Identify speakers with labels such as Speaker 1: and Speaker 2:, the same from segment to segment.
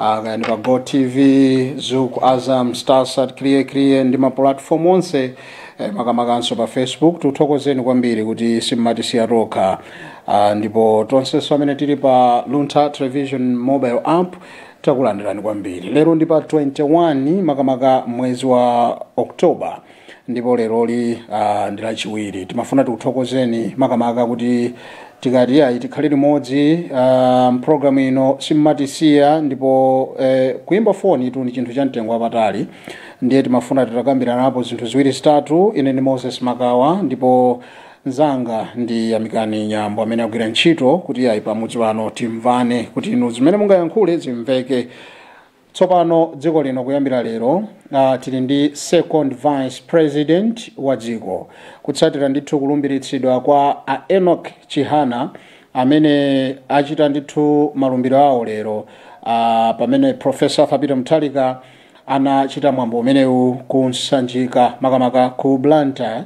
Speaker 1: Ah, kaya ndi pa go tv zuku azam starsat Kiliye Kiliye ndi mapulatifomu onse eh, makamakanso pa facebook tuthokozeni kwambiri kuti simmatisiya tokha ah, ndipo tonsenso amene tili pa Luntha television mobile app takulandirani kwambiri lero ndi pa 21 makamaka mwezi wa october ndipo leroli ah, ndi lachiwiri timafuna tikuthokozeni makamaka kuti tikati ayi tikhale limodzi ah, mprogram ino simmatisiya ndipo eh, kuyimba foni tu ndi chinthu cha mtengo wapatali ndiye timafuna titakambiranapo zinthu ziwiri zitatu ine ndi Moses Makawa ndipo nzanga ndi Yamikani Nyambo amene agwira ntchito kuti ayi pamudzi pano timvane kuti inu zimene mungayankhule zimveke Tsopano dziko lino kuyambira lero uh, tili ndi second vice president wa dziko kutsatira ndithu kulumbiritsidwa kwa a Enoch Chihana amene achita ndithu malumbiro awo lero uh, pamene Professor Arthur Peter Mutharika anachita mwambo umenewu ku Sanjika makamaka ku Blantyre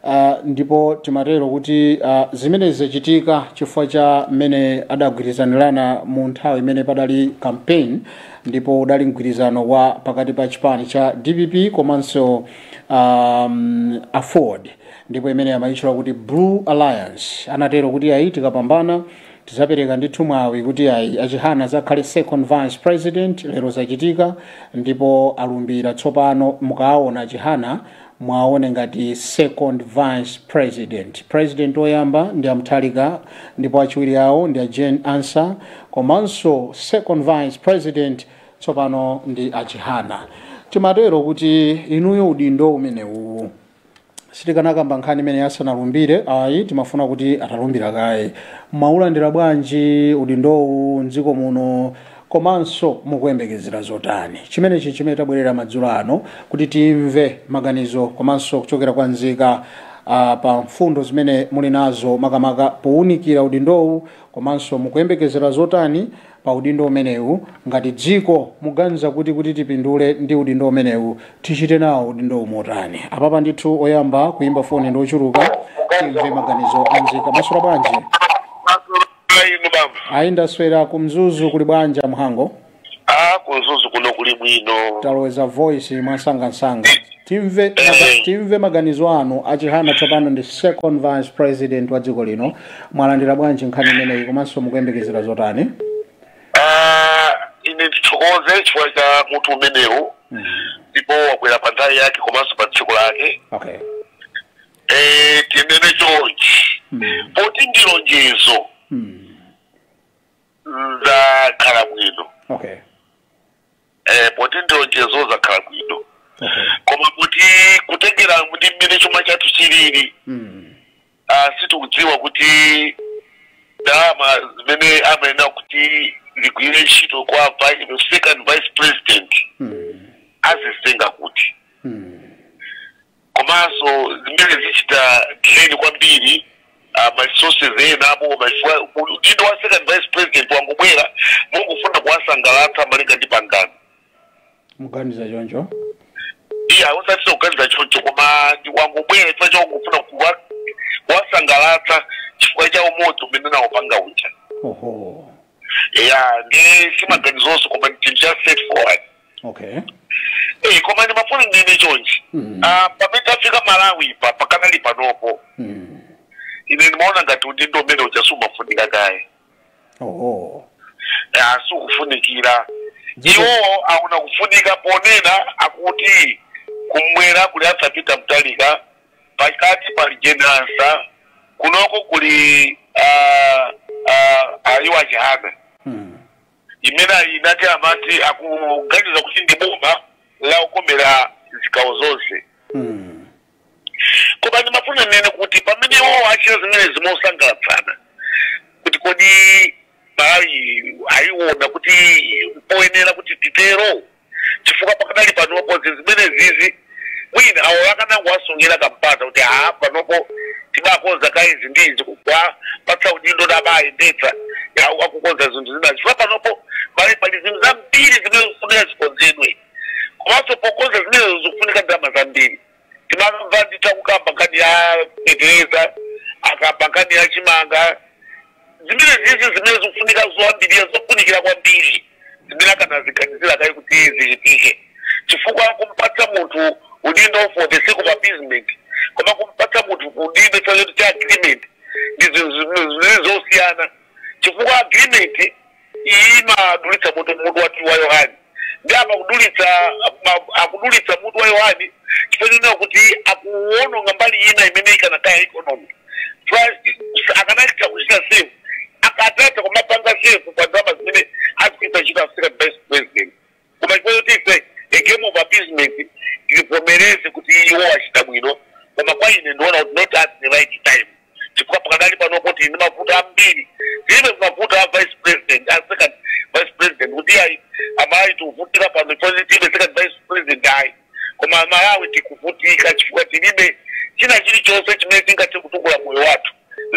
Speaker 1: Uh, ndipo timatero kuti uh, zimenezi zachitika chifukwa cha mmene adagwirizanirana mu nthawi imene padali campaign ndipo udali mgwirizano wa pakati pa chipani cha dpp komanso um, AFORD ndipo imene amayitchula kuti blue alliance anatero kuti ayi tikapambana tizapereka ndithu mwawi kuti ayi a Chihana azakhale second vice president lero zachitika ndipo alumbira tsopano mukaawona a Chihana mwaone ngati second vice president president oyamba ndi a Mutharika ndipo achiwiri awo ndi a Jane Ansah komanso second vice president tsopano ndi a Chihana timatero kuti inuyo udindo umenewuwu sitikanakamba nkhani imene asanalumbire ayi timafuna kuti atalumbira kaye mwaulandira bwanji udindowu mdziko muno komanso mukuyembekezera zotani? Chimenechi n'chimene tabwerera madzulo ano kuti timve maganizo komanso kuchokera kwa nzika ah, pa mfundo zimene muli nazo makamaka pounikira udindowu komanso mukuyembekezera zotani pa udindo umenewu ngati dziko muganiza kuti kuti tipindule ndi udindo umenewu tichite nawo udindowu motani apapa ndithu oyamba kuyimba foni ndi ochuluka timve maganizo a nzika mwaswera bwanji Ayi inu bambo. ayi ndaswera ku mzuzu kuli bwanji a Mhango Ah, ku
Speaker 2: Mzuzu kuno kuli bwino. taloweza
Speaker 1: voice mwamsangamsanga timve, Eh. maga- timve maganizo anu a Chihana tsopano ndi second vice president wa dziko lino mwalandira bwanji nkhani imeneyi komanso mukuyembekezera zotani
Speaker 2: Ah, ine ndithokoze chifukwa cha mutu umenewu. Ndipo wagwera pa nthawi yake komanso pa tsiku lake. okay
Speaker 1: Eh,
Speaker 2: tinene chonchi Mm. poti ndi lonjezo Mm. zakhala bwino Okay. eh, poti ndi lonjezo zakhala bwino Okay. koma
Speaker 1: kuti
Speaker 2: kutengera ndi mmene chuma chathu chilili Mm. ah, sitikudziwa kuti ndalama zimene amanena kuti igwire ntchito kwa vice, second vice president Mm. azitenga kuti Mm. komanso zimenezi zichita drain kwambiri ah, ma resources enawo koma chifukwa udindo wa second vice president wangobwera mongofuna kuwasangalatsa malinga ndi pangano muganiza
Speaker 1: choncho
Speaker 2: iya osatinso kuganiza choncho koma ndi wangobwera chifukwa cha kungofuna kuwa- kuwasangalatsa chifukwa cha umodzi umene anawupanga uja oho
Speaker 1: ya
Speaker 2: nde si maganizonso koma ndi chinthu cha straightforward
Speaker 1: okay Eh,
Speaker 2: koma ndimafuna ndinene chonchi Mm. Ah, pamene tafika malawi pa pakadali panopo mm. ine ndimaona ngati udindo umene uja siwumafunika kaye
Speaker 1: oh. Ah,
Speaker 2: siukufunikira Ndipo- iwo akuona kufunika ponena akuti kumwera kuli a Peter Mutharika pakati pali a Jane Ansah kunoko kuli ah, ah, awa a Chihana mm. imene ena amati akuganiza kuti ndi boma lokomera zigawo zonse Mm. koma ndimafuna ndinene kuti pamene iwo achita zimenezi mosangalatsana kuti kodi malawi ayiona kuti mpoyenera kuti titero chifukwa pakadali panopo zinthu zimenezizi mwina awo akanangowasungira kampata kuti a panopo tibakonza kaye zinthuzi kuwapatsa udindo kuti abayendetsa awo akukonza zinthu zinazi chifukwa panopo pali pali zinthu zambiri zimene zikufunika zikonzedwe komanso pokonza zimenezo zikufunika ndalama zambiri timamva akukamba nkhani ya fetereza akamba nkhani ya chimanga zimenezizi zimene zikufunika zoyambirira zofunikira kwambiri zimene akanaziganizira kaye kuti zichitike chifukwa kumpatsa munthu udindo for the sake of appeasement koma kumpatsa munthu udindo chifukwa choti cha agreement ndi zinthu zimene zosiyana chifukwa agreement iyi imadulitsa mutu mutu wa wa yohani ndi apa kudulitsa mu- akudulitsa mutu wa yohani chifukwa chonena kuti akuwononga mbali ina imene ikanakweza economy First, akanachita kuchita save akanatha kumapanga save pa ndalama zimene azikaitanitsa a second vice president koma chifukwa choti it's a game of appeasement tivomereze kuti iwo achita bwino koma kwa ine ndiona kuti not at the right time chifukwa pakadali pano tili ndi mavuto ambiri tilibe mavuto a vice president a second vice president kuti ayi amalawi tikuvutika pano chifukwa tilibe second vice president ayi koma amalawi tikuvutika chifukwa tilibe china chilichonse chimene tingathe kutukula moyo wathu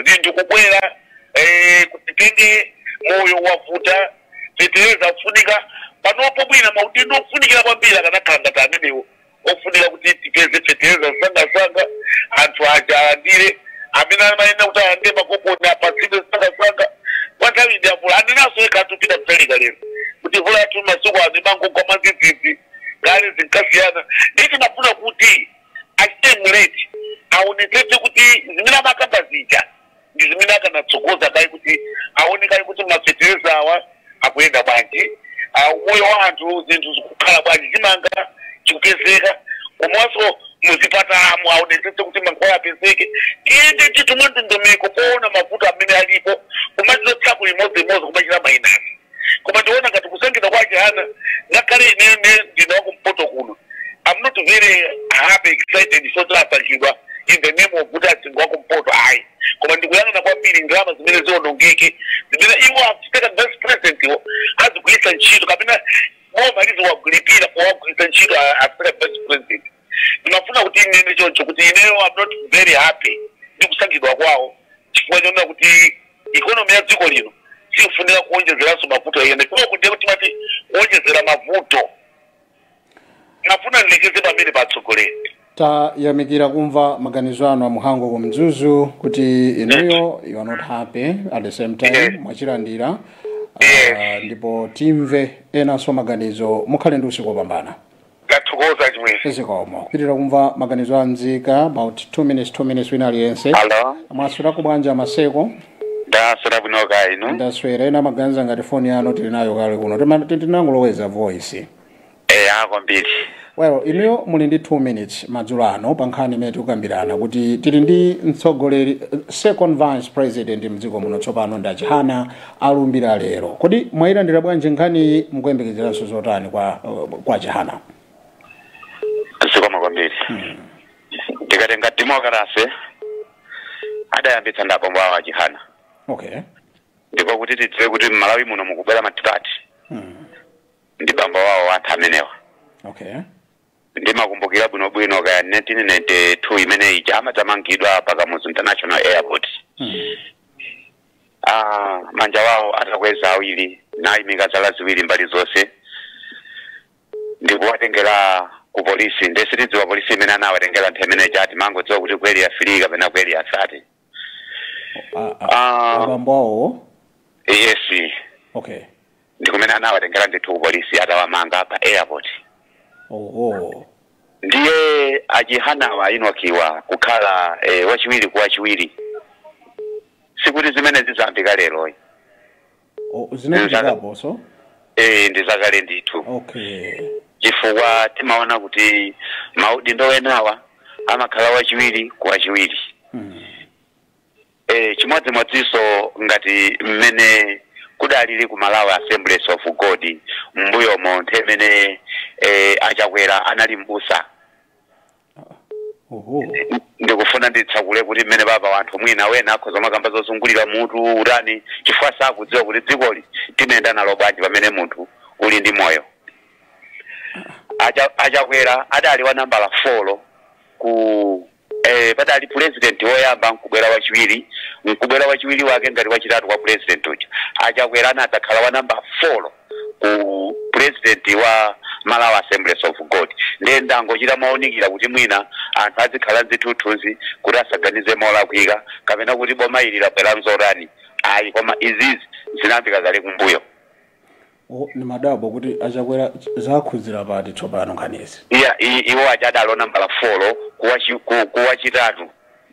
Speaker 2: zinthu kukwera eh, kutitenge moyo wavuta fetereza akufunika panopo bwina maudindo ofunikira kwambiri akanakhala ngati amenewo ofunika kuti tipeze fetereza msangasanga anthu aja alandire amene amayenera kuti alandire makoponi apatsidwe msangasanga kwa nthawi ndi mvula anenanso yekha ikupita kutalika lero kuti mvula yathu masiku ano imangogwa mwadzidzidzi kale zinkasiyana ndiye timafuna kuti achite, muleti aonetsetse kuti zimene amakamba zija ndi zimene akanatsogoza kaye kuti aone kaye kuti mafetereza awa akuyenda bwanji ah, umoyo wa anthu zinthu zikukhala bwanji chimanga chikupezeka komanso muzipatalamu aonetsetse kuti mankhwala apezeke tiyende titumwe ndondomeko poona mavuto amene alipo kumachotsako limodzilimodzi kumachita mainasi koma ndiona ngati kusankhidwa kwa Chihana ngakhale ineyo ndine wakumpoto kuno am not very happy excited soti asankhidwa in the name of kuti asankha wakumpoto ayi koma ndikuyang'ana kwambiri ndalama zimene zionongeke zimene iwo a second vice president iwo azigwiritsa ntchito kapena boma liziwalipirira powagwiritsa ntchito a- a second vice president ndimafuna kuti inene choncho kuti ineyo am not very happy ndi kusankhidwa kwawo chifukwa chonena kuti ikonomi ya dziko lino sifunika kuwonjezeranso mavuto ena chifukwa kuti kuti timati kuwonjezera mavuto ndimafuna ndilekeze pamenepa atsogoleri
Speaker 1: tayamikira kumva maganizo anu a muhango ku mzuzu kuti inuyo you are not happy at the same time Yes. mwachilandira Yes. Ah, ndipo timve enanso maganizo mukhale ndi usiku wopambana
Speaker 2: Tathokoza chimwene. zikomo kupitiriza
Speaker 1: kumva maganizo a nzika about 2 minutes 2 minutes wina aliyense Hello. mwaswerako bwanji a maseko Ndaswera bwino
Speaker 2: kaya inu. ndaswera ena maganiza
Speaker 1: ngati foni yanu tili nayo kale kuno Tima- ti- tinangoloweza voice Eh,
Speaker 2: kwambiri.
Speaker 1: well inuyo muli ndi 2 minutes madzulo ano pa nkhani imene tikukambirana kuti tili ndi mtsogoleri eh, second vice president mdziko muno tsopano ndi achihana alumbira lero kodi mwayilandira bwanji nkhaniyi mukuyembekezeranso zotani kwa kwa
Speaker 2: chihana zikomo kwambiri tikatenga demokarasi adayambitsa ndi abambo awo achihana okay
Speaker 1: ndipo
Speaker 2: kuti tidziwe kuti mmalawi muno mukubwera matipati mm. ndi bambo wawo anthu amenewa okay ndimakumbukira bwinobwino kaya 1992 imene ija amadzamangidwa pa kamuzu international airport mm. ah, manja wawo atakweza awiri nayimika zala ziwiri mbali zonse ndikuwatengera ku polisi nde sitidziwa polisi imene anawatengera nthawi imene cha timangodziwa kuti kweli afili kapena kweli asati A- a-
Speaker 1: Ah. abambo awo yes okay ndikumene
Speaker 2: anawatengera ndithu ku polisi atawamanga pa airport oho ndiye achihanawa a Enock awa kukhala eh, wachiwiri kwa wachiwiri sikuti zimene zayambika lero O- zinachitikapo
Speaker 1: so eh, ndi
Speaker 2: zakale ndithu
Speaker 1: okay
Speaker 2: chifukwa timaona kuti maudindo enawa amakhala wachiwiri kwa wachiwiri mm. e, chimodzimodzinso ngati mmene kudalili ku malawi assemblies of god mbuyomo nthawi imene e, achakwera anali mbusa oho ndikufuna nditsekule kuti mmene baba wanthu mwina wena akhoza kumakamba zozungulira mutu utani chifukwa sakudziwa kuti dzikoli timayenda nalo bwanji pamene munthu uli ndi moyo Acha- achakwera adali wa nambala folo ku Eee padali pulezidenti woyamba nkubwera wachiwiri, nkubwera wachiwiri wake ngati wachitatu kwa pulezidenti uja. A Chakwera anadzakhala wa namba folo ku pulezidenti wa Malawi Assemblies of God. Ndiye ndangochita mowunikira kuti mwina anthu azikhala nchithunzithunzi kuti asaganize molakwika kapena kuti boma ili labwera nzotani ayi koma izizi zinayambika kale kumbuyo.
Speaker 1: ndimadabwa kuti achakwera zakhudzira pati tsopano nkhanizi. Iya, i- iwo
Speaker 2: aja adali wa nambala folo kuwachi- ku- kuwachitatu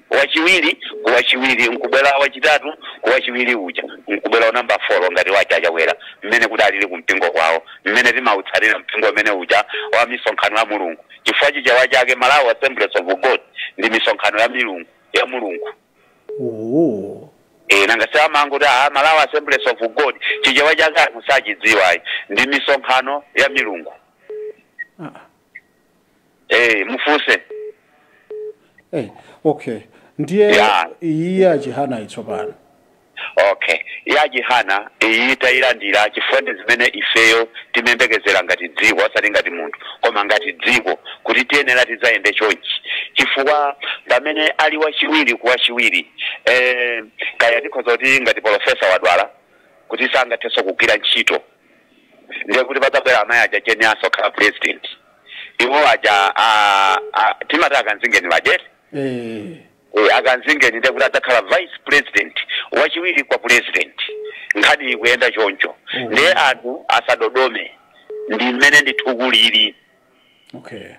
Speaker 2: wachiwiri kuwachiwiri nkubwera wachitatu kuwachiwiri uja nkubwera wa namba folo ngati waja achakwera mmene kudalili kumpingo kwawo mmene timautsatira mpingo umene uja wa misonkhano ya mulungu chifukwa chichewa chake malawi assemblies of god ndi misonkhano ya milungu ya mulungu Oh. Eh, nanga si amangoti a malawi assemblies of god chichewa chake anthu sachidziwa ayi ndi misonkhano ya milungu Ah. eh, mufunse Hey,
Speaker 1: okay. Ndiye Yeah. iyi ya chihanayi tsopano.
Speaker 2: Okay. Ya Chihana, iyi tayilandira chifukwa ndi zimene ifeyo timayembekezera ngati dziko, osati ngati munthu, koma ngati dziko kuti tiyenera tidzayende chonchi. Chifukwa pamene ali wachiwiri ku wachiwiri, eh, kaya tikhoza kuti ngati polofesa wadwala kuti sangathenso kugwira ntchito, ndiye kuti padzabwera amayi aja Jane Ansah khala president. Iwo aja a, a, timati akanzingeni bajeti. Eh. Eee a Kanzingeni ndiye kuti adzakhala vice president wachiwiri kwa president nkhani ikuyenda choncho Oh. ndiye anthu asadodome ndi mmene ndithu kulili okay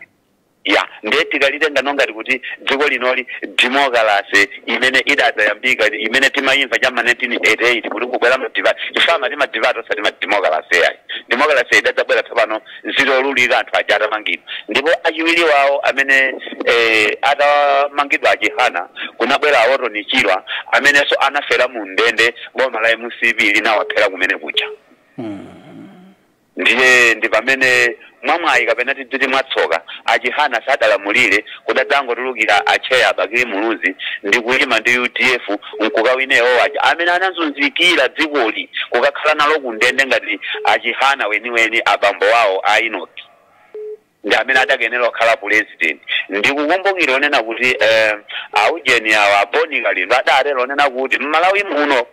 Speaker 2: ya ndiye tikalitenga monga ngati kuti dziko linoli demokalase imene idadzayambika imene timayimva cha ma 1988 kuti kubwera matipate fama ti matipate osati ma demokalase ayi demokalase idadzabwera tsopano zitaululika anthu aja atamangidwa ndipo achiwiri wawo amene eh, atamangidwa a chihana kunabwera a Orton Chirwa amenenso anafera mu ndende boma la mcp linawaphera kumene kuja ndiye ndi pamene mwamwayi kapena tidziti mwatsoka achihana sadalamulire Kudadzangotulukira a chair Bakili Muluzi ndi kuyima ndi udf nkukawina iwowo aja amene anazunzikira dzikoli kukakhala nalo ku ndende ngati a Chihana weniweni abambo awo a Enock ndi amene adakayenera kukhala pulezidenti. Ndikukumbukira onena kuti eeh a ujeni awa a Boni Kalindo adatero wonena kuti m'Malawi muno.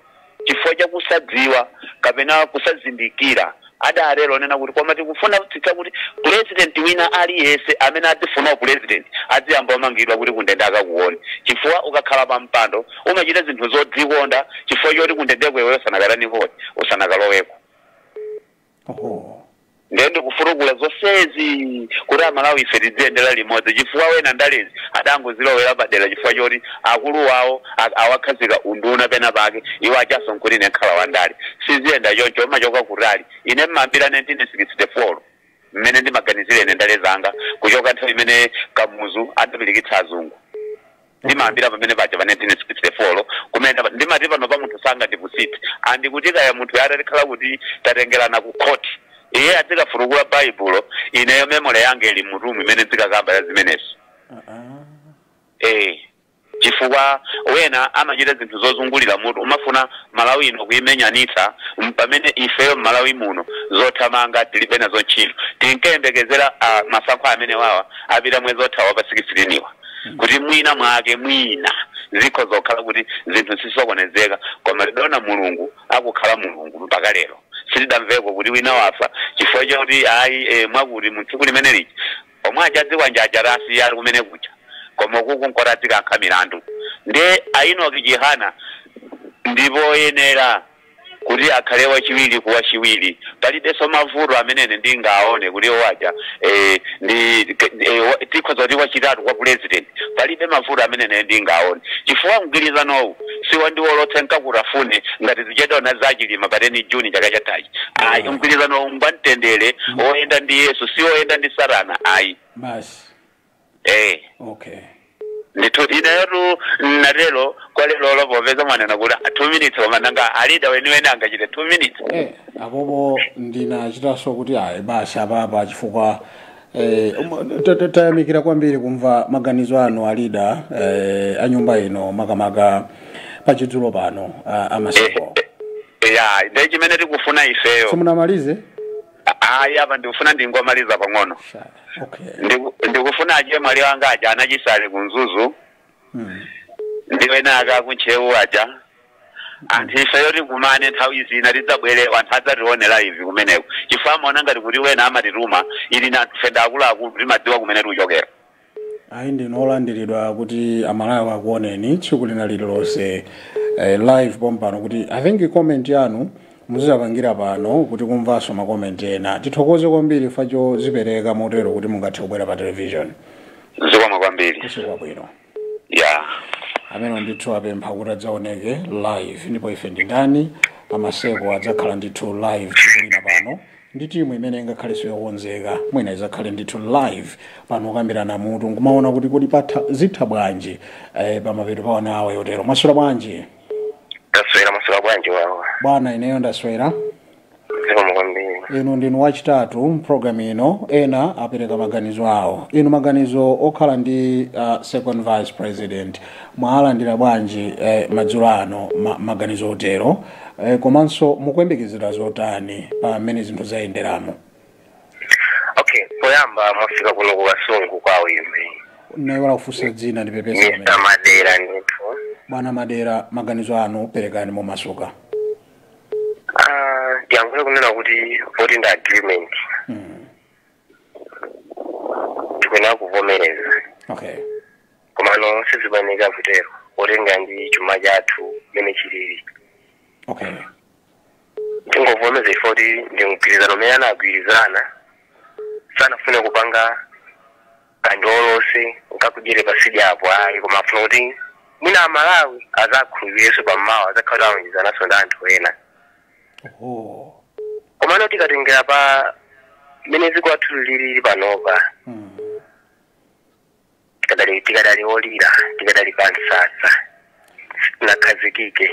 Speaker 2: chifukwa cha kusadziwa kapena kusazindikira adatero wonena kuti koma tikufunitsitsa kuti pulezidenti wina aliyense amene adzifuna upulezidenti adziyamba wamangidwa kuti kundende akakuwone chifukwa ukakhala pa mpando umachita zinthu zodzikonda chifukwa choti kundendeko iweyo usanakatani poti usanakaloweko ndiye ndikufutukula zonsezi kuti amalawi ife tidziyendera limodzi chifukwa wena ndalezi adangozilowera padera chifukwa choti akulu wawo a- awakhazika unduna pena pake iwo atchaso nkuti ine nkhala wa ndale siziyenda choncho umachoka kutali ine mmayambira 1964 mmene ndimaganizira ine ndale zanga kuchoka nthawi imene kamuzu adapilikitsa azungu ndimayambira pamene paja pa 1964 lo kumene ndapa- ndimati pano pa munthu sangandipusite ndi kuti kaya munthu itati yakhala kuti tatengerana ku khoti iye adzikafutukula baibulo ineyo memole yange ili m'mutumu imene ndizikakamba ya zimenezo eh chifukwa wena amachita zinthu zozungulira mutu kumafuna malawi ino kuimenyanitsa m- pamene ifeyo mmalawi muno zothamanga tilibe nazo ntchito tinkayembekezera ah, masankho amene wawa apita mwezi wathawu pa 16 wa kuti mwina mwake mwina zikhoza kukhala kuti zinthu zisokonezeka koma tidaona mulungu akukhala mulungu mpaka lero sitidamveko kuti wina wafa chifukwa choti ayi e, mwakuti mu tsiku limene lija omwe achadziwanjaja rasiya ali kumene kuja koma kukungkhala adzikankha milandu nde a Enock Chihana ndi woyenera kuti akhale wachiwiri kwa wachiwiri palibenso mavuto amene ine ndingaone kuti awo aja eh, ndi ke- eh, wa- tikhoza kuti ndi wachitatu kwa president palibe mavuto amene ine ndingaone chifukwa mgwirizanowu si wa ndiwolotse nkakutafune ngati zichedaona za Chilima pa teni Juni chaka chathachi ayi mgwirizanowu ngwamtendere oyenda ndi yesu si oyenda ndi satana ayi basi
Speaker 1: eh
Speaker 2: okay ndithu inetu natero kwa lero lo popeza mwanena kuti ah, two minutes koma nanga alida weniweni angachite two minutes Eh, apopo
Speaker 1: ndinachitaso kuti ayi basi apapa chifukwa eh, um, ta- ta- tayamikira kwambiri kumva maganizo anu alida eh, anyumba ino makamaka pachidzulo pano ah, amasiku ya
Speaker 2: nde chimene tikufuna ifeyo simunamalize Ayi apa ndikufuna ndingomaliza pang'ono. Sha. Okay. Ndiku- Ndikufuna aje amwali anga aja a Nachisale ku Mzuzu Mm. ndi ena aka ku Ntcheu aja. Anthu ife tikumane nthawi zina tidzabwere anthu adzatione live kumeneko. Chifukwa amaona ngati kuti wina amatituma ili nanga ife ndi akuluakulu timadziwa kumene tikuchokera. ayi
Speaker 1: ndinu olandiridwa kuti amalawi akuoneni tsiku lina lililonse eh, live pompano kuti i think comment yanu muzizapangira pano kuti kumvanso ma comment ena tithokoze kwambiri chifukwa chodzipereka motero kuti mungathe kubwera pa television
Speaker 2: zikomo kwambiri usiku
Speaker 1: wabwino
Speaker 2: ya
Speaker 1: amenewo ndithu apempha kuti adzaoneke live ndipo ife ndi ndani a Maseko adzakhala ndithu live tsiku lina pano ndi timu imene ingakhalenso yokonzeka mwina idzakhale ndithu live pano kukambirana mutu nkumaona kuti kodi patha zithu bwanji eh, pamapeto pa one hour yotero mwaswera bwanji taswera
Speaker 2: maswera bwanji wawa bwana ineyo ndaswera zikomo kwambiri inu ndinu
Speaker 1: wachitatu mu program ino ena apereka maganizo awo inu maganizo okhala ndi uh, second vice president mwalandira bwanji eh, madzulo ano ma, maganizo otero Eh, komanso mukuyembekezera zotani pa mmene zinthu
Speaker 2: zayenderamo okay poyamba mwafika kuno ku kasungu kwawo imwe nayiwala kufunsa
Speaker 1: dzina ndipepesa pamenepo mr madera
Speaker 2: ndithu bwana
Speaker 1: madera maganizo anu perekani momasuka
Speaker 2: Ah, ndiyankhule kunena kuti vote ndi agreement Mm, tikuyenera kuvomereza okay komano sizikuyeneka kutero potengera ndi chuma chathu mmene
Speaker 1: chilili
Speaker 2: okay tingovomereza ife kuti ndi mgwirizano umene anagwirizana sanafune kupanga ka ndiolotse ndikakudyere pa tsidyapo ayi koma afuna kuti mwina amalawi azakhulupirirenso pammawa azakhala kuti alonjezananso ndi anthu ena oh komano tikatengera pa mmene dziko lathu lilili panopa mm. tikadali tikadali olira tikadali pa msasa tisanakhazikike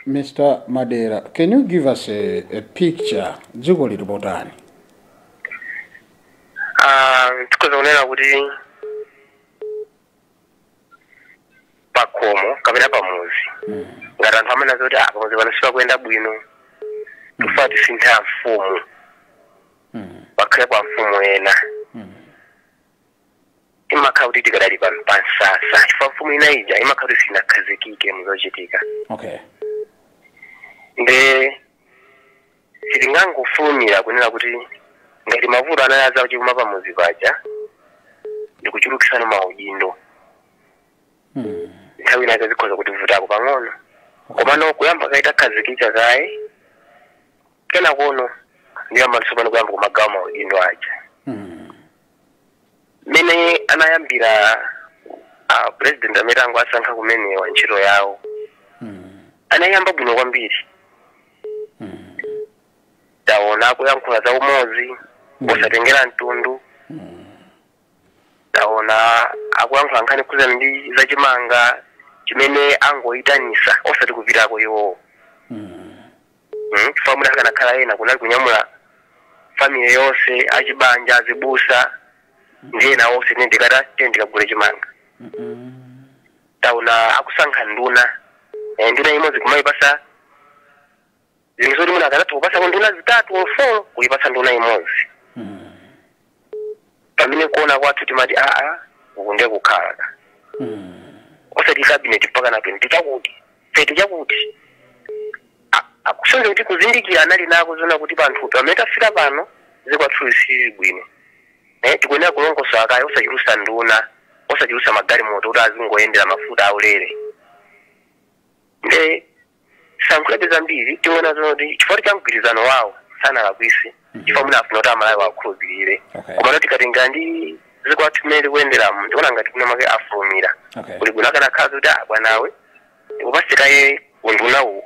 Speaker 1: Mr. Madera, can you give us a, a picture dziko lili potani?
Speaker 2: Ah, tikhoza kunena kuti pakhomo kapena pamuzi ngati anthu amanena zoti ah pamuzi pano sipakuyenda bwino tifuna tisinthe amfumu pakhale amfumu ena imakhala kuti tikadali pa pa msasa chifukwa mfumu ina ija imakhala kuti sinakhazikike
Speaker 1: muzochitika okay nde
Speaker 2: sitingangofulumira kunena kuti ngati mavuto anali a zachuma pa muzi paja ndikuchulukisana maudindo mm. nthawi ina zikhoza kutivutako pang'ono komano kuyamba kaita khazikika kaye kenako no ndiyamba tsopano kuyamba kumagawa maudindo aja mm. mmene anayambira a president amene tangowasankha kumenewa ntchito yawo anayiyamba bwino kwambiri taona akuyankhula za umodzi osatengera mtundu taona akuyankhula nkhani zokhudzana ndi zachimanga chimene angoyitanisa osati kupitako iwowo mm, chifukwa mwina akanakhala ena kunali kunyamula family yonse achibanja azibusa ndi ena onse tine ndikata tine ndikagule chimanga taona akusankha nduna Eh, nduna imodzi kumayipasa zinthu zoti mwina akanatha kupasako nduna zitatu or four kuyipasa nduna imodzi pamene kuona kwathu timati aa uku ndiye kukhala ka osati cabinet mpaka na 20 chakuti 30 chakuti A- akusonyeza kuti kuzindikira anali nako zona kuti pamtunda pamene tafika pano dziko lathu silili bwino eh, tikuyenera kulongosola kaye osachulusa nduna osachulusa magalimoto kuti azingoyendera mafuta aulere nde sindilankhulabe zambiri tiona zoti chifukwa cha mgwirizano wawo sanalakwise chifukwa mwina afuna kuti aMalawi awakhulupirire Okay. komano tikatengera ndi dziko lathu mmene tikuyenderamo ndiona ngati mwina mwake afulumira Okay. kuli bwino akanakhala kuti ah bwanawe tikupase kaye undunawu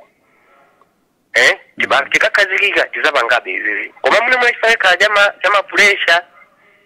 Speaker 2: eh tiba- tikakhazikika tizapangabe izizi koma mwina mwina chifukwa chakhala chama chamapuresha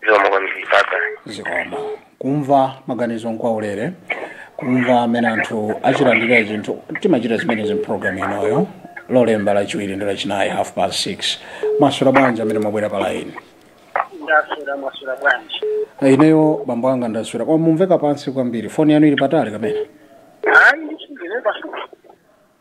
Speaker 1: zikomo kwambiri papa
Speaker 2: zikomo
Speaker 1: kumva
Speaker 2: maganizo
Speaker 1: nkwaulere kumva mmene anthu achilandirira chinthu timachita zimenezi mpulogalamu inoyo lolemba lachiwiri ndi lachinayi half past 6 mwaswera bwanji amene mwabwera pa laini
Speaker 3: ndaswera mwaswera bwanji ineyo
Speaker 1: bambo anga ndaswera koma mumveka pansi kwambiri foni yanu ili patali kapena hayi
Speaker 3: ndisungile pasuku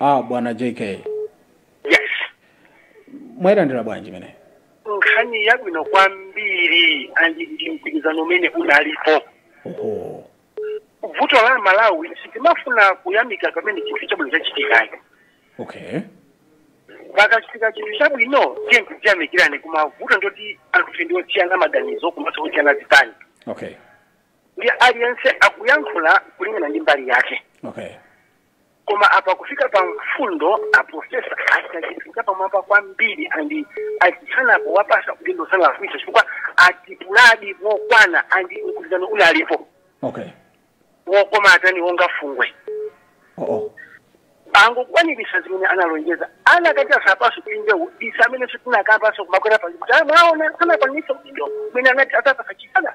Speaker 3: a
Speaker 1: bwana
Speaker 3: jk
Speaker 1: yes mwayilandira bwanji imeneyi
Speaker 3: nkhani yabwino kwambiri andi ndi mpikisano umene unalipo oho vuto la malawi sitimafuna kuyamika pamene chinthu chabwino
Speaker 1: chachitikayo
Speaker 3: okay pakachitika chinthu chabwino tiyeni tiziyamikira koma vuto ndoti anthufe ndi osiyana maganizo komanso osiyana zipani okay
Speaker 1: ndi
Speaker 3: aliyense akuyankhula kulingana ndi mbali yake okay koma apa kufika pa mfundo aprofesa achita chinthu chapamwamba kwambiri andi achitsanzapo wapatsa kuti ndosangafwisa chifukwa atipuladi mokwana andi mgwirizano unalipo okay wokoma atani wonga fungwe oh, oh. angokwaniritsa zimene analonjeza anakati awapatsa kulinda udisa amene sitinakapaso kumakwera pazikuti mwaona anakwaniritsa udindo umene anati awapatsa chisana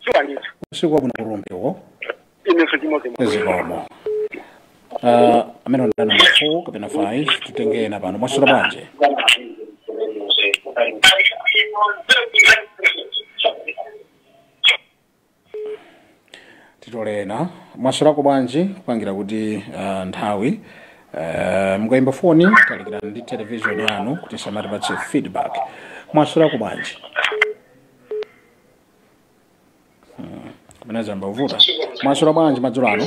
Speaker 3: shuwa ndithu usiku wabwino
Speaker 1: kurumbiwo
Speaker 3: inenso chimodzimodzi
Speaker 1: zikomo Ah, amene unali namba 4 kapena 5 tutenge ena pano mwaswera bwanji titole ena mwaswerako bwanji kupangira kuti ah, nthawi ah, mukayimba foni talikirani ndi television yanu kuti isamatipatse feedback mwaswerako bwanji kapena zayamba kuvuta mwaswera bwanji madzulo
Speaker 2: ano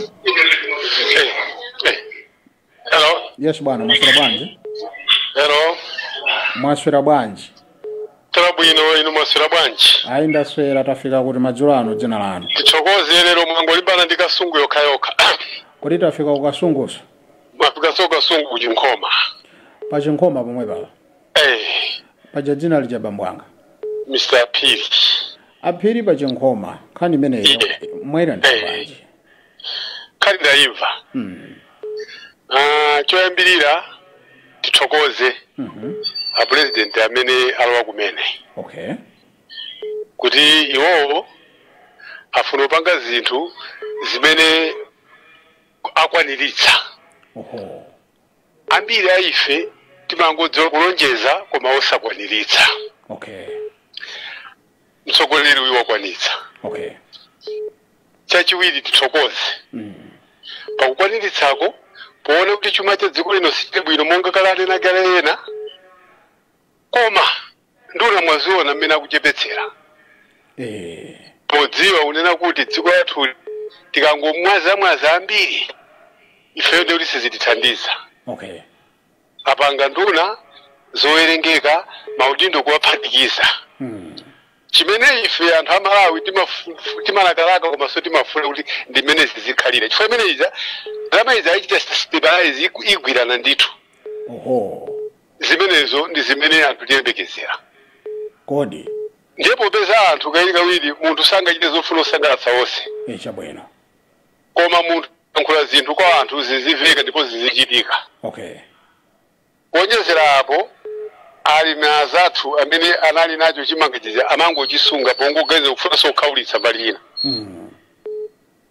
Speaker 2: Hello. yes bwana mwaswera
Speaker 1: bwanji Hello.
Speaker 2: mwaswera
Speaker 1: bwanji Taswera
Speaker 2: bwino inu mwaswera bwanji. ayi
Speaker 1: ndaswera tafika kuti madzulo ano dzina lanu Tithokoze
Speaker 2: lero mwangolimbana ndi kasungu yokha yokha. kodi tafika
Speaker 1: ku kasungunso Mwafikanso
Speaker 2: kasungu ku Chinkhoma. pa
Speaker 1: chinkhoma pomwe paja Eh, paja dzina lija bambo anga Mr.
Speaker 2: Phiri
Speaker 1: aphiri pa chinkhoma nkhani imeneyo Inde. mwaiona Eh. bwanji
Speaker 2: Nkhani ndaimva. Mm. Ah, choyambirira tithokoze Mhm. a president amene alowa kumene okay kuti iwowo afuna kupanga zinthu zimene akwaniritsa oho Ambiri a ife timangodziwa kulonjeza koma
Speaker 1: osakwaniritsa. Okay. Mtsogoleri
Speaker 2: uyu wakwanitsa.
Speaker 1: Okay.
Speaker 2: Chachiwiri tithokoze pakukwaniritsako poona kuti chuma cha dziko lino sichili bwino monga kale ananena kale ena. koma nduna mwaziona mmene akuchepetsera Eh. podziwa kunena kuti dziko lathu tikangomwazamwaza ambiri ifeyo ndekuti sizitithandiza Okay.
Speaker 1: apanga
Speaker 2: nduna zowerengeka maudindo kuwaphatikiza Mm. chimene ife anthu a malawi timafu- timalakalaka komanso timafuna kuti ndi mmene zizikhalira chifukwa chimenechi za ndalama izi ayichita stabilize iku- igwirana ndithu Oho. Zimenezo ndi zimene anthu tiyembekezera.
Speaker 1: Kodi. Ndiye
Speaker 2: popeza anthu kawirikawiri munthu sangachite zofuna osangalatsa onse. E Chabwino.
Speaker 1: Koma
Speaker 2: munthu akayankhula zinthu kwa anthu zizimveka ndipo zizichitika. Okay. Kuonjezera apo, alimi anzathu amene anali nacho chimanga chija amangochisunga pongoganiza kufunanso kukhaulitsa mbali ina. Mm.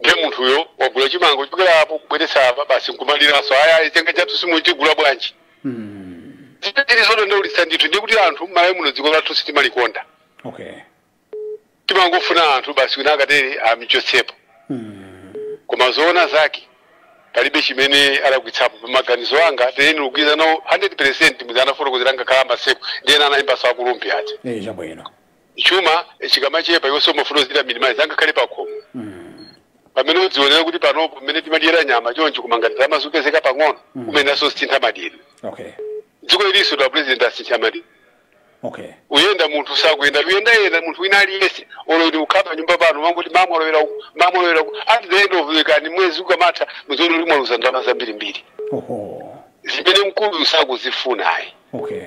Speaker 2: ndiye munthuyo wagula chimanga kuchokera apo kubweretsa apa basi nkumaliranso aya ayi chimanga chathu simutigula bwanji Mm. zilidi zodandaulitsa ndithu ndiye kuti anthu mmalawi muno dziko
Speaker 1: lathu
Speaker 2: sitimalikonda Okay. timangofuna anthu basi wina akatere amichotsepo Mm. koma zoona zake palibe chimene alakwitsapo pamaganizo anga ndiye ine ndikugwirizana nawo 100 percent muja anafotokozera ngakhale a Maseko ndi ena anayimbaso akulumphi ati Eh, chabwino. chuma chikamachepa iwenso umafuna uzichita minimize angakhale pakhomo pamene udzionera kuti panopo pamene timadyera nyama choncho koma ngati ndalama zikupezeka pang'ono umayeneranso kusintha madyedwe okay dziko ilinso a president asintha madyedwe okay kuyenda munthu sakuyenda kuyendayenda munthu wina aliyense olo utakhala panyumba pano mumangoti mmawa mwalowera uku mmawa mwalowera uku at the end of the day ni mwezi ukamatha muziona kuti mwaluza ndalama zambirimbiri oho zimene mkulu sakuzifuna ayi okay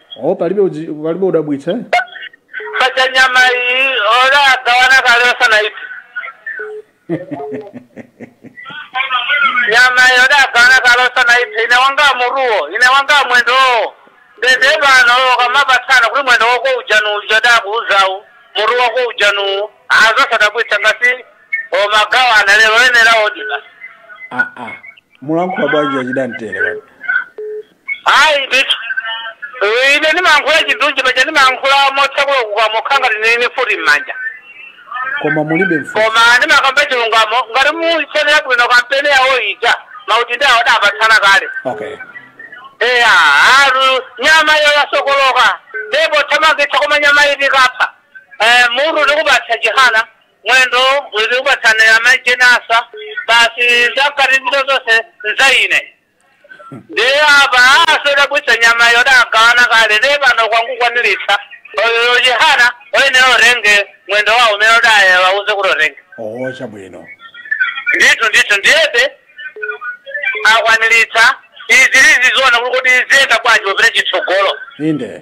Speaker 3: o
Speaker 1: palibe udzi- palibe chodabwitsa
Speaker 3: eh? paja nyama iyi adagawana kale asanaiphe nyama iyi adagawana kale asanaiphe ine wanga mutuwo ine wanga mwendowo nde nde pano akamapatsana kuti mwendo wako uja ndi uwu uja ndakuuzawu mutu wako uja ndi uwu aa zosadabwitsa ngati akumagawana lero ayenera kudya basi Ah, ah.
Speaker 1: mukulankhula bwanji achidamtere pano
Speaker 3: ayi ndithu Eh, ine ndimayankhula chindunji paja ndimayankhula motsakula kukamwa kwanga ndinene futi m'manja koma
Speaker 1: mulibe mfuti koma ndimakamba
Speaker 3: chilungamo ngati mudaionera bwino kampeni yawo ija maudindo awa adapatsana kale okay eya ati nyama iyo yasokoloka ndipo tathamangitsa koma nyama iyi tikaipha Eh, mutu ndikupatsa Chihana mwendo ndikupatsa Jane Ansah basi zakati ndi zanga zonse nzaine ndiye apa sizodabwitsa nyama yo adagawana kale ndiye pano akungokwaniritsa a Chihana ayenera atenge mwendo wawo umene adawauza kuti atenge oho
Speaker 1: chabwino
Speaker 3: ndithu ndithu ndiyebe akwaniritsa izi tiziziona kuti kuti ziyenda bwanji popita kutsogolo inde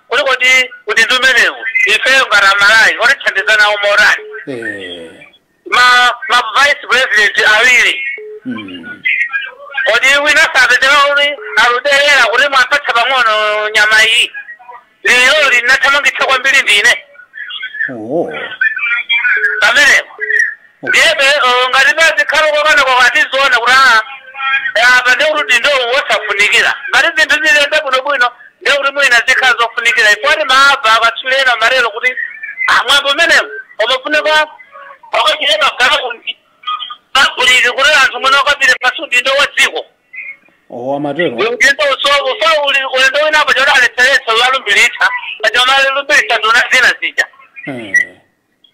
Speaker 3: Kodi kodi udindo umenewu ifeyo ngati aMalawi atithandiza nawo motani Eh. ma ma vice president awiri Mm. kodi wina sapezeka kuti akuderera kuti mwandipatsa pang'ono nyama iyi lero ndinaithamangitsa kwambiri ndine Oh. pamenepo Ndiyebe olo ngati pazikhala kukanakokana tiziona kuti aa apa ndiye kuti udindowu wosafunikila. Ngati zinthu ziziyenda bwino bwino ndiye kuti mwina zikhala zofunikila chifukwa timamva akatswili ena amatelo kuti ah mwambo umenewu umafunika ukachitike pa galaundi pabuliki kuti anthu mwina akapite basi udindo wa dziko.
Speaker 1: owo amatero Udindo usowo
Speaker 3: fa uli ulendo wina apa choti alepheretsa kuwalumbilitsa paja amalumbilitsa nduna zina zija. Eh,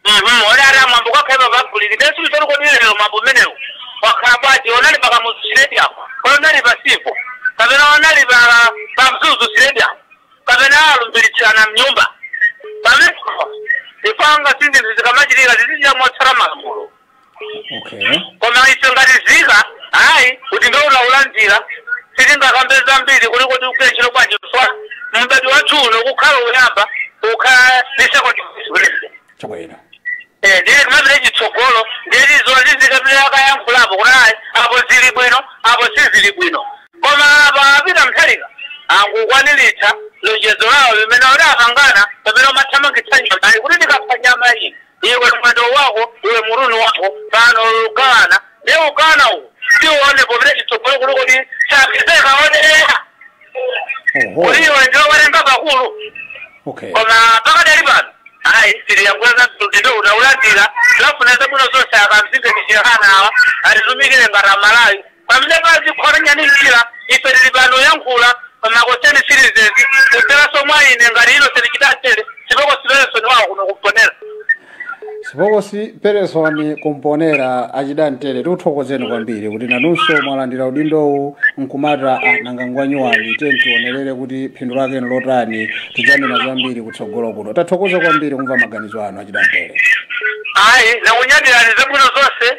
Speaker 3: Mhm, odi ati amwambo kwakhaipa paguli limene silisoni kodi lero mwambo umenewu wakhala bwanji unali pa kamuzu stadium kodi unali pa Civo kapena unali pa pa mzuzu stadium kapena alumbiritsirana mnyumba pamenepo ifanga zinthu zikamachitika zizichita motsata malamulo okay koma ife ngati nzika ayi udindowu taulandira sitingakambe zambiri kuli kuti ugwira ntchito bwanji chifukwa m'badwo wathu uno kukhala uyamba kukhala ndi second vice president chabwino
Speaker 1: Eh, ndiye
Speaker 3: kumapita chitsogolo ndiye tizaona tizikapita akayankhulapo kuti ayi apo zili bwino apo sizili bwino
Speaker 2: koma apa a Peter Mutharika angokwaniritsa lonjezo lawo limene adapangana pamene umathamangitsa nyama kuti ndikapha nyama iyi iwe mwendo wako iwe mutu ndi wako pano ukana ne ukana uwu tione popita chitsogolo kuli kuti chapezeka onera oho kuli iwe ndiwe werenga pakulu okay koma pakadali pano ayi siriyakweza udindowu taulandira tiwafunira zabwino zonse a Kamzingeni Chihanawa atitumikire ngati amalawi Pamene pazikhota nyani mchira, ife tili pano yankhula pa ma Concerned Citizens kudzeraso mwa ine ngati Innocent Chidantere, spokesperson
Speaker 1: wawo kuno ku Mponela. Spokesperson ku Mponela achidantere tikuthokozeni kwambiri kuti nanunso mwalandira udindowu nkumata anangangwanyuwani tiye tionerere kuti phindu lake nlotani tidzanena zambiri kutsogolo kuno tathokoza kwambiri kumva maganizo anu achidantere Ayi,
Speaker 2: nakunyadirani zabwino zonse.